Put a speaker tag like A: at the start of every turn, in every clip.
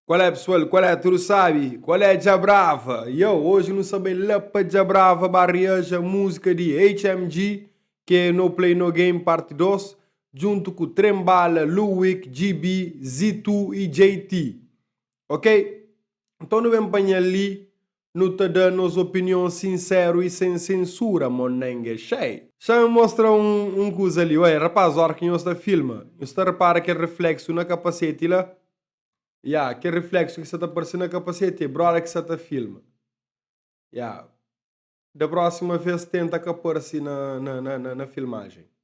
A: Qual é pessoal, qual é tudo sabe, qual é dja brava, yo hoje nu sa bai la pa dja brava ba reaja música di HMG que é no play no game parte 2 junto ku trem bala, luick, GB, Zitoo e JT ok, nton nu ben panha li Nu ta da nos opinion sinseru i sen sensura, Monenge Xai. Xa N mostra un un kuza li. Oia, rapaz, óra ki nhos ta filma, nhos ta repara kel refleksu na kapaseti la? Ya, kel refleksu ki sta ta parse na kapaseti é bróda ki sta ta filma. Ya. Da prósima vês tenta ka parse na na na filmajen.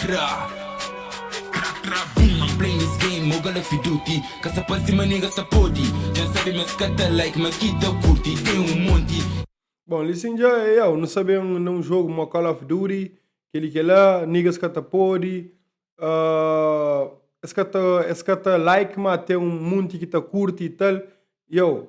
B: Tra Tra tra boom I'm playing this game Mo gala fi duty Ka sa pa sima nigga sa podi Djan sabi mas ka ta like ma ki ta kurti Ten un monti Bon, li sin
A: dja é au, nu sa ben na un jogu mo Call of Duty, kel-li kel la, niggas ka ta podi, es ka ta, es ka ta like ma ten un munti ki ta kurti y tal, yow,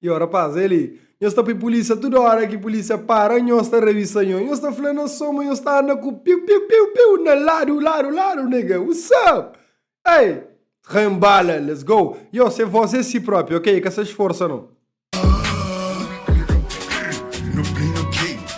A: Yo rapaz, el li, nhos ta pui pulísia tudu óra ki pulísia para nhos ta ravisa nho, nhos ta fla na soma nhos ta anda ku piu piu piu piu na ladu ladu ladu nega what's up ei ren bala let's go yo se vos é si propi ok ka sa sforsa no.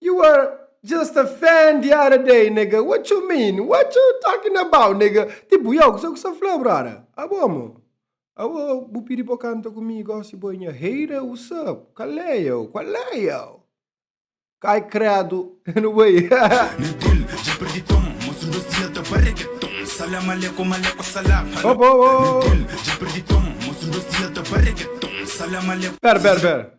A: You are just a fan the other day, nega. What you mean? What you talking about, nega? Tipo, yo, kusé ku sa fla, brother? Abo, mo? Abo, bu pidi pa kanta ku mi, gosi bo é nha hater, usap? Kalé, yo? Kualé, yo? Kai kredu, N no bai.
C: Opa, opa, opa. Pera, pera, pera.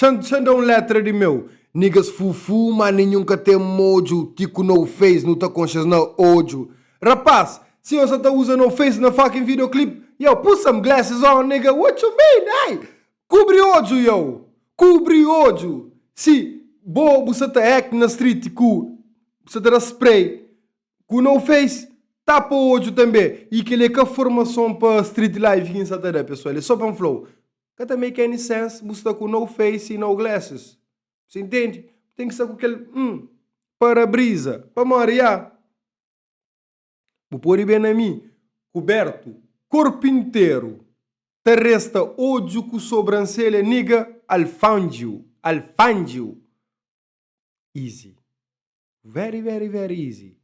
A: Xan-xan da un letra di meu. Nigas fufu ma ninhun ka ten modju ki ku no face nu ta konxas na odju Rapaz, si yo sa ta uza no face na fucking video clip Yow put some glasses on nigga what you mean ey Kubri odju yow Kubri odju Si bo bu sa ta act na street ku bu sa ta da spray ku no face tapa odju tanbe E keli e ka formason pa street life ki N sa ta da pesoal e so pa N fla-u Ka ta make any sense bu sta ku no face y no glasses. Bu ta intendi? Bu ten ki sta ku kel um para-brisa. Pamodi ya bu pode ben na mi kubertu korpu interu ta resta odju ku sobranselha nigga I'll found you, I'll find you easy, very very very easy.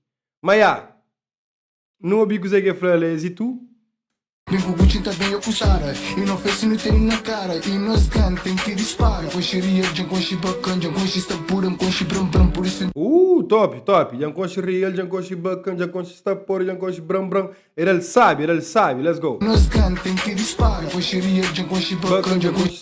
A: Ma ya Nu obi kuzé ki el fla la, es i tu? Bem ku
C: Gucci ta bem akusada E no festi nu teni na kara E nos gan ten ki dispara Konxi riel djan konxi bakan Djan konxi sta pura N konxi bram bram Pur isu N. Ooh top top
A: djan konxi riel djan konxi bakan Djan konxi sta pura djan konxi bram bram Era el sabi era el sabi let's go. Nos gan ten ki
C: dispara Konxi riel djan konxi bakan Djan konxi.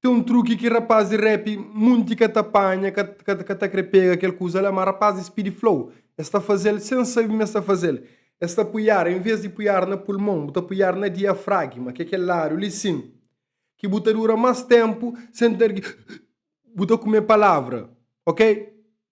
A: Tem um truque que rapaz de rap munti ka ta panha, ka, ka, ka ta kre pega kel kuza la, ma rapaz de speed flow es ta fazel sem sabe ma es ta fazel. Es ta pui ar, em vez de pui ar na pulmon, bu ta pui ar na diafragma, ke kel lado li sim, ki bu ta dura mas tempo sem ter ki bu ta kume palavra, ok?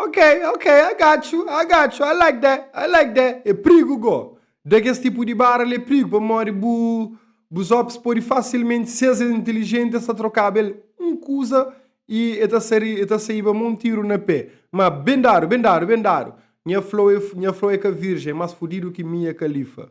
C: Ok, ok, I
A: got you, I got you, I like that, I like that. É prigu go. Da kes tipu di barra li é prigu pamodi bu bus hópis pode fasilmenti, si es é intilijenti, es ta trokaba el un kuza i el ta sari, el ta saiba ma un tiru na pé. Má ben dadu, ben dadu, ben dadu. Nha Flo é, nha Flo é ka virjen, é más fudidu ki Mia Khalifa.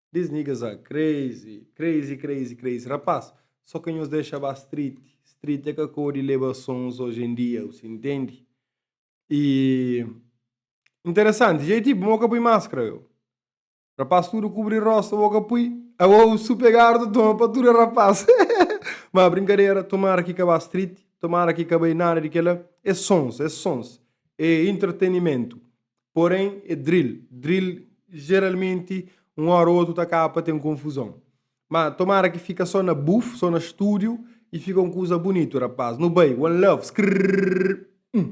A: These niggas are crazy, crazy, crazy, crazy Rapaz, so ka nhos dexa ba street, street é ka kodi leba sons oji en dia, bu si intendi? E interesanti, JT bu mo ka pui maskra yo? Rapaz tudu kubri rosta bo ka pui? Awou su pegardu toma pa tudu rapaz Ma brinkadera, tomara ki ka ba street, tomara ki ka bai nada di kela, é sons, é sons, é intratenimentu, Porém, é drill. Drill, geralmenti, un hora ou otu ta kaba pa ten konfuzon. Má tomara ki fika so na buf, so na studio y fika un kuza bunitu, rapaz. Nu bai! One love! Skrrrrrr! Hum!